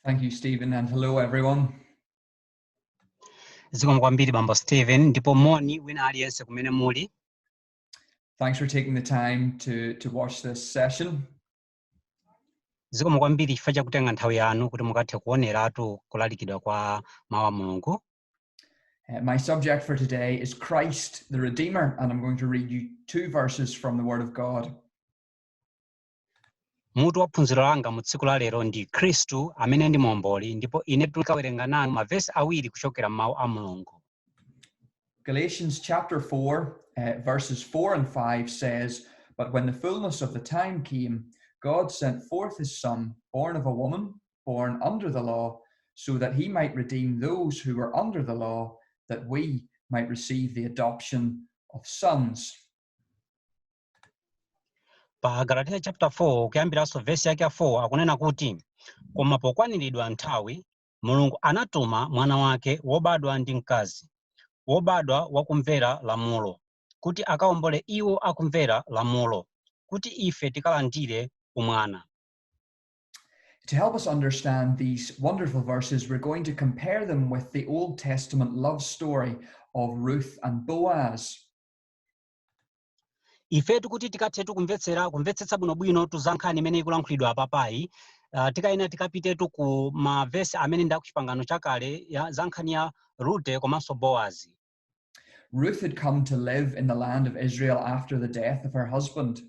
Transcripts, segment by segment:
Thank you, Stephen, and hello, everyone. zikomo kwambiri bambo stephen ndipo moni wina aliyense kumene muli Thanks for taking the time to, to watch this session. zikomo kwambiri chifukwa chakutenga nthawi yanu kuti mukathe kuoneratu kulalikidwa kwa mawu a mulungu Uh, my subject for today is Christ the Redeemer, and I'm going to read you two verses from the Word of God. Mutu wa phunziro langa mu tsiku la lero ndi Khristu amene ndi Muomboli ndipo ine tikawerenga nanu mavesi awiri kuchokera m'mawu a Mulungu. Galatians chapter 4, uh, verses 4 and 5 says, But when the fullness of the time came, God sent forth his Son, born of a woman, born under the law, so that he might redeem those who were under the law, that we might receive the adoption of sons. pa agalatiya chapter 4 kuyambiranso vesi yake ya 4 akunena kuti koma pokwaniridwa nthawi mulungu anatuma mwana wake wobadwa ndi mkazi wobadwa wakumvera lamulo kuti akaombole iwo akumvera lamulo kuti ife tikalandire umwana To help us understand these wonderful verses, we're going to compare them with the Old Testament love story of Ruth and Boaz. ifetu kuti tikathetu kumvetsera kumvetsetsa bwinobwinotu za nkhani imene ikulankhulidwa apapayi uh, tikayenera tikapitetu ku mavesi amene ndi akuchipangano chakale ya- za nkhani ya rute komanso boazi Ruth had come to live in the land of Israel after the death of her husband.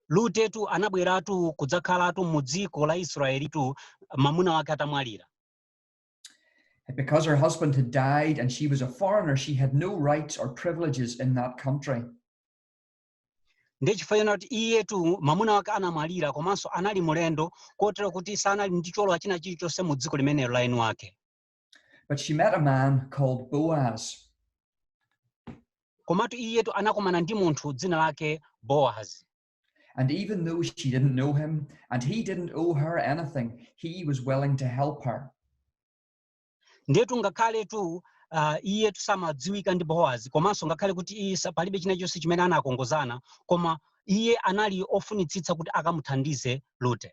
lutetu anabweratu kudzakhalatu mu dziko la israelitu mamuna wake atamwalira Because her husband had died and she was a foreigner, she had no rights or privileges in that country. ndiye chifukwa chonena kuti iyetu mamuna wake anamwalira komanso anali mulendo kotero kuti sanali ndi cholowa china chilichonse mu dziko limenelo la eni wake But she met a man called Boaz. komatu iyetu anakumana ndi munthu dzina lake boazi And even though she didn't know him and he didn't owe her anything, he was willing to help her. ndetu ngakhaletu uh, iyetu samadziwika ndi boazi komanso ngakhale kuti iye sa- palibe china chonse chimene anakongozana koma iye anali ofunitsitsa kuti akamuthandize rute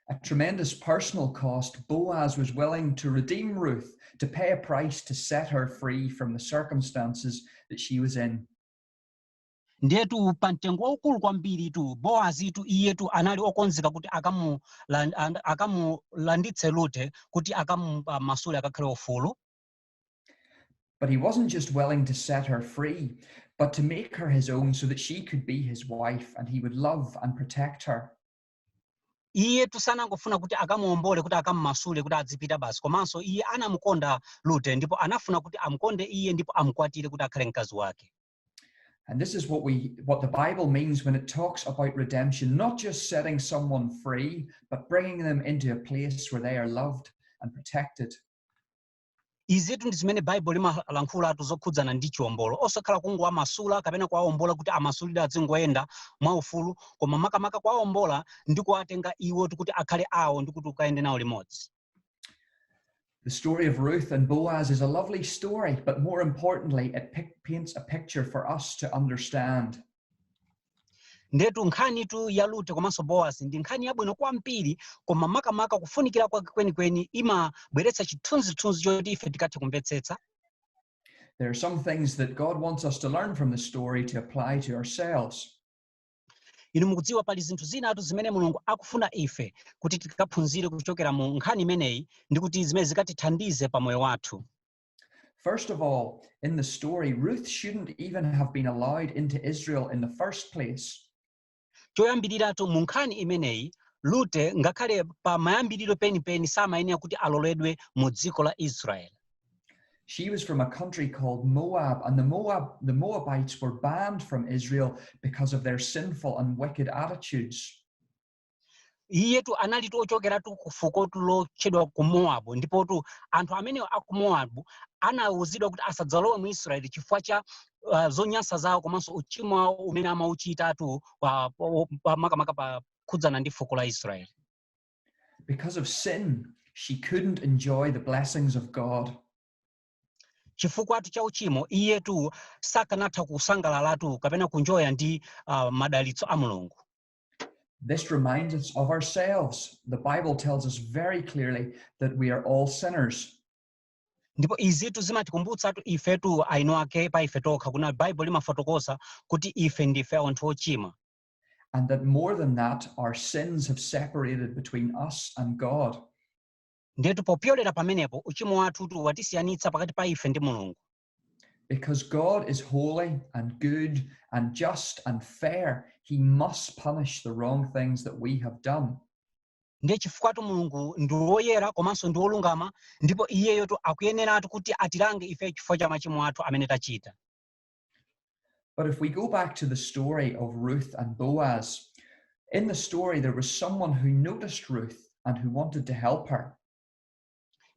At tremendous personal cost, Boaz was willing to redeem Ruth, to pay a price to set her free from the circumstances that she was in. ndiyetu pa mtengo waukulu kwambiritu boazitu iyetu anali okonzeka kuti akamulan- and- akamulanditse lute kuti akamumasule akakhale ufulu But he wasn't just willing to set her free, but to make her his own so that she could be his wife and he would love and protect her. iyetu sanangofuna kuti akamuombole kuti akammasule kuti adzipita basi komanso iye anamukonda lute ndipo anafuna kuti amukonde iye ndipo amukwatire kuti akhale mkazi wake And this is what we what the Bible means when it talks about redemption, not just setting someone free, but bringing them into a place where they are loved and protected. izitu ndi zimene baibulo limalankhulatu zokhudzana ndi chiwombolo osakhala kungowamasula kapena kuwawombola kuti amasulidwe azingoyenda mwaufulu koma makamaka kuwawombola ndi kuwatenga iwo kuti akhale awo ndi kuti ukayende nawo limodzi The story of Ruth and Boaz is a lovely story, but more importantly, it paints a picture for us to understand. ndetu nkhanitu ya lute komanso boazi ndi nkhani yabwino kwambiri koma makamaka kufunikira kwake kwenikweni imabweretsa chithunzithunzi choti ife tikathe kumvetsetsa There are some things that God wants us to learn from the story to apply to ourselves. inu mukudziwa pali zinthu zinatu zimene mulungu akufuna ife kuti tikaphunzire kuchokera mu nkhani imeneyi ndi kuti zimene zikatithandize pa moyo wathu First of all, in the story, Ruth shouldn't even have been allowed into Israel in the first place. choyambiriratu mu nkhani imeneyi lute ngakhale pa mayambiriro penipeni samayenera kuti aloledwe mu dziko la israeli She was from a country called Moab, and the Moab the Moabites were banned from Israel because of their sinful and wicked attitudes. iyetu analitu ochokeratu ku fukotu lotchedwa ku mowabu ndipotu anthu amenewa a ku mowabu anawuzidwa kuti asadzalowe mu israeli chifukwa cha uh, zonyansa zawo komanso uchimo wawo umene amauchitatu pa- pa- pa- makamaka pokhudzana ndi fuko la israeli Because of sin, she couldn't enjoy the blessings of God. chifukwatu cha uchimo iyetu sakanatha kusangalalatu kapena kunjoya ndi uh, madalitso a mulungu This reminds us of ourselves. The Bible tells us very clearly that we are all sinners. ndipo izitu zimatikumbutsatu ifetu eni ake pa ife tokha kunena baibulo limafotokoza kuti ife ndife anthu ochimwa and that more than that, our sins have separated between us and God. ndetu popyolera pamenepo uchimo wathu uti watisiyanitsa pakati pa ife ndi mulungu Because God is holy and good and just and fair, he must punish the wrong things that we have done. ndiye chifukwatu mulungu ndi woyera komanso ndi wolungama ndipo iyeyotu akuyeneratu kuti atilange ife chifukwa cha machimo athu amene tachita But if we go back to the story of Ruth and Boaz, in the story there was someone who noticed Ruth and who wanted to help her.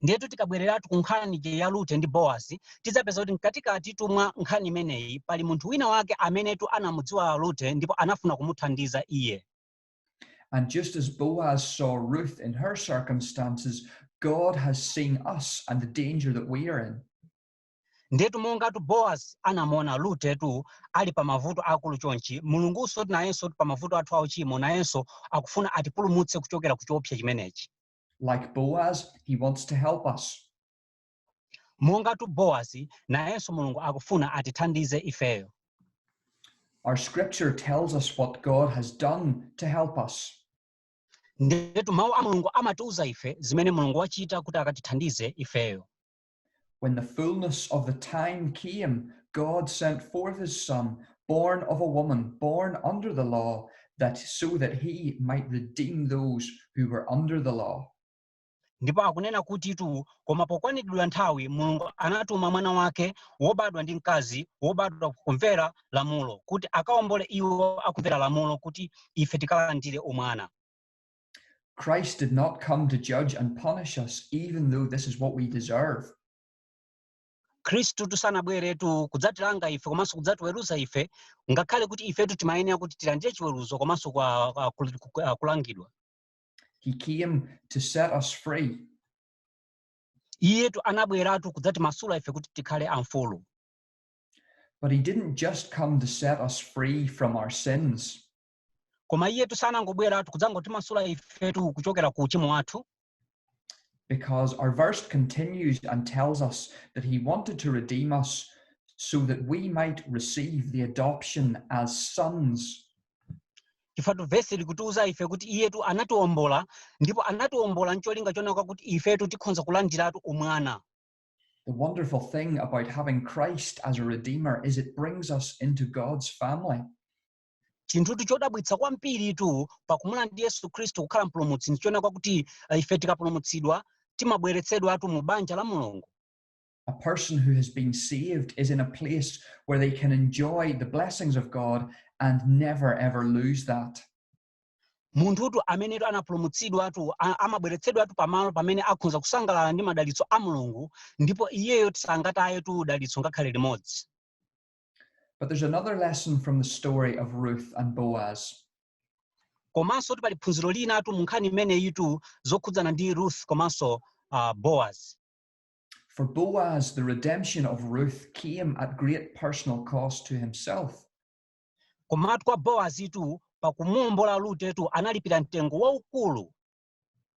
ndiyetu tikabwereratu ku nkhani eh ya rute ndi boazi tidzapeza kuti mkatikatitu mwa nkhani imeneyi pali munthu wina wake amenetu anamudziwa rute ndipo anafuna kumuthandiza iye And just as Boaz saw Ruth in her circumstances, God has seen us and the danger that we are in. ndetu mongatu boazi anamuona rutetu ali pa mavuto akulu chonchi mulungunsotu nayensotu pa mavuto athu auchimo nayenso akufuna atipulumutse kuchokera ku choopsa chimenechi Like Boaz, he wants to help us. mongatu boazi nayenso mulungu akufuna atithandize ifeyo Our scripture tells us what God has done to help us. ndetu mawu a mulungu amatiuza ife zimene mulungu wachita kuti akatithandize ifeyo When the fullness of the time came, God sent forth his Son, born of a woman, born under the law, that so that he might redeem those who were under the law. ndipo akunena kutitu koma pokwaniridwa nthawi mulungu anatuma mwana wake wobadwa ndi mkazi wobadwa kumvera lamulo kuti akaombole iwo akumvera lamulo kuti ife tikalandire umwana Christ did not come to judge and punish us, even though this is what we deserve. khristutu sanabweretu kudzatilanga ife komanso kudzatiweruza ife ngakhale kuti ifetu timayenera kuti tilandire chiweruzo komanso kwa- kwa- kul- ku- ah, kulangidwa He came to set us free. iyetu anabweratu kudzatimasula ife kuti tikhale amfulu But he didn't just come to set us free from our sins, koma iyetu sanangobweratu kudzangotimasula ifetu kuchokera ku uchimo wathu because our verse continues and tells us that he wanted to redeem us so that we might receive the adoption as sons chifatu vesi likutiuza ife kuti iyetu anatiombola ndipo anatiombola ncholinga chonena kuti ifetu tikhonza kulandiratu umwana The wonderful thing about having Christ as a redeemer is it brings us into God's family. chinthutu chodabwitsa kwambiritu pakumulandira yesu khristu kukhala mpulumutsi ndi chonena kuti eh, ife tikapulumutsidwa timabweretsedwatu mu banja la mulungu A person who has been saved is in a place where they can enjoy the blessings of God and never ever lose that. munthutu amenetu anapulumutsidwatu a- amabweretsedwatu pamalo pamene akhonza kusangalala ndi madalitso a mulungu ndipo iyeyotu sangatayetu dalitso ngakhale limodzi But there's another lesson from the story of Ruth and Boaz. komanso kuti pali phunziro linatu mu nkhani imeneyitu zokhudzana ndi ruth komanso uh, boaz For Boaz, the redemption of Ruth came at great personal cost to himself. komatu kwa boazitu pakumuwombola rutetu analipira mtengo waukulu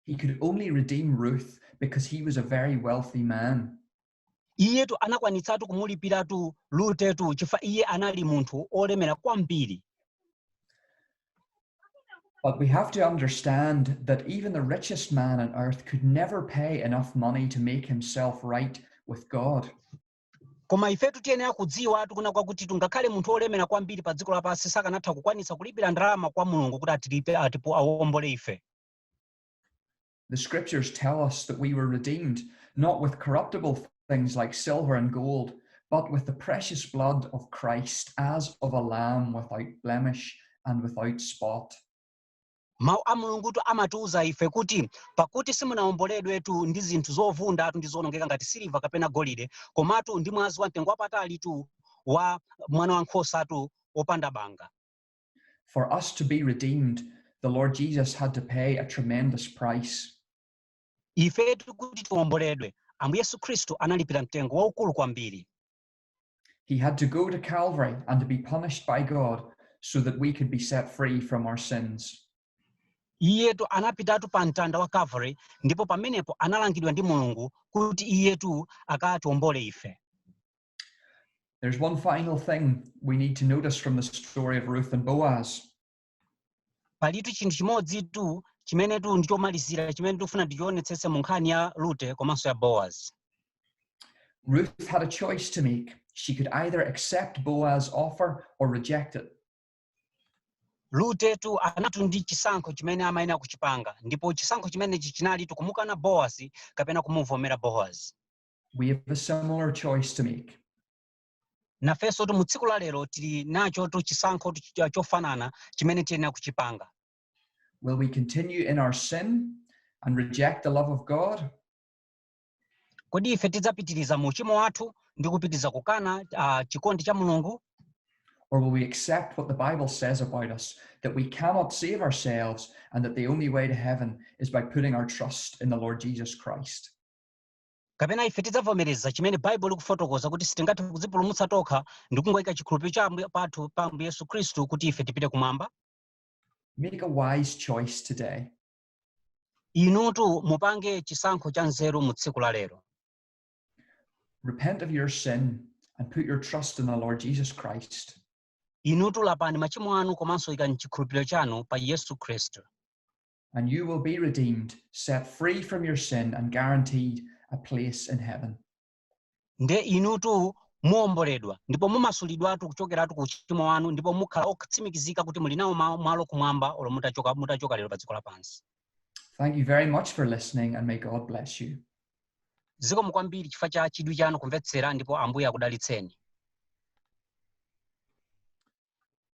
He could only redeem Ruth because he was a very wealthy man. iyetu anakwanitsatu kumulipiratu rutetu chifukwa iye anali munthu olemera kwambiri But we have to understand that even the richest man on earth could never pay enough money to make himself right with God. koma ifetu tiyenera kudziwatu kunena kwakuti tungakhale munthu olemera kwambiri pa dziko lapansi sakanatha kukwanitsa kulipira ndalama kwa mulungu kuti atilipe atipo awombole ife The scriptures tell us that we were redeemed, not with corruptible things like silver and gold, but with the precious blood of Christ as of a lamb without blemish and without spot. mawu a mulungutu amatiwuza ife kuti pakuti simunawomboledwetu ndi zinthu zovundatu ndi zowonongeka ngati siliva kapena golide komatu ndi mwazi wa mtengo wapatalitu wa mwana wa nkhosatu wopanda banga For us to be redeemed, the Lord Jesus had to pay a tremendous price. ifetu kuti tiwomboledwe ambuye yesu khristu analipira mtengo waukulu kwambiri He had to go to Calvary and to be punished by God so that we could be set free from our sins. iyetu anapitatu pa mtanda wa calvary ndipo pamenepo analangidwa ndi mulungu kuti iyetu akatiwombole ife There's one final thing we need to notice from the story of Ruth and Boaz. palitu chinthu chimodzitu chimenetu ndi chomalizira chimene tikufuna tichionetsetse mu nkhani ya rute komanso ya boazi Ruth had a choice to make. She could either accept Boaz's offer or reject it. rutetu analitu ndi chisankho chimene amayenera kuchipanga ndipo chisankho chimenechi chinalitu kumukana boazi kapena kumuvomera boazi We have a similar choice to make. nafensotu mu tsiku la lero tili nachotu chisankhotu ch- chofanana chimene tiyenera kuchipanga Will we continue in our sin and reject the love of God? kodi ife tidzapitiriza mu uchimo wathu ndi kupitiriza kukana uh, chikondi cha mulungu Or will we accept what the Bible says about us that we cannot save ourselves and that the only way to heaven is by putting our trust in the Lord Jesus Christ? Kapena ife tidzavomereza chimene Baibulo likufotokoza kuti sitingathe kudzipulumutsa tokha ndi kungoika chikhulupiriro cha Ambuye pathu pa Ambuye Yesu Khristu kuti ife tipite kumwamba? Make a wise choice today. Inutu mupange chisankho cha nzeru mu tsiku la lero. Repent of your sin and put your trust in the Lord Jesus Christ. Inutu lapani machimo anu komanso ikani chikhulupiriro chanu pa Yesu Khristu. and you will be redeemed, set free from your sin, and guaranteed a place in heaven. nde inutu muomboledwa ndipo mumasulidwatu kuchokeratu ku uchimo wanu ndipo mukhala otsimikizika kuti muli nawo ma- malo kumwamba olo mu- mutachoka lero pa dziko lapansi Thank you very much for listening, and may God bless you. zikomo kwambiri chifukwa cha chidwi chanu kumvetsera ndipo ambuye akudalitseni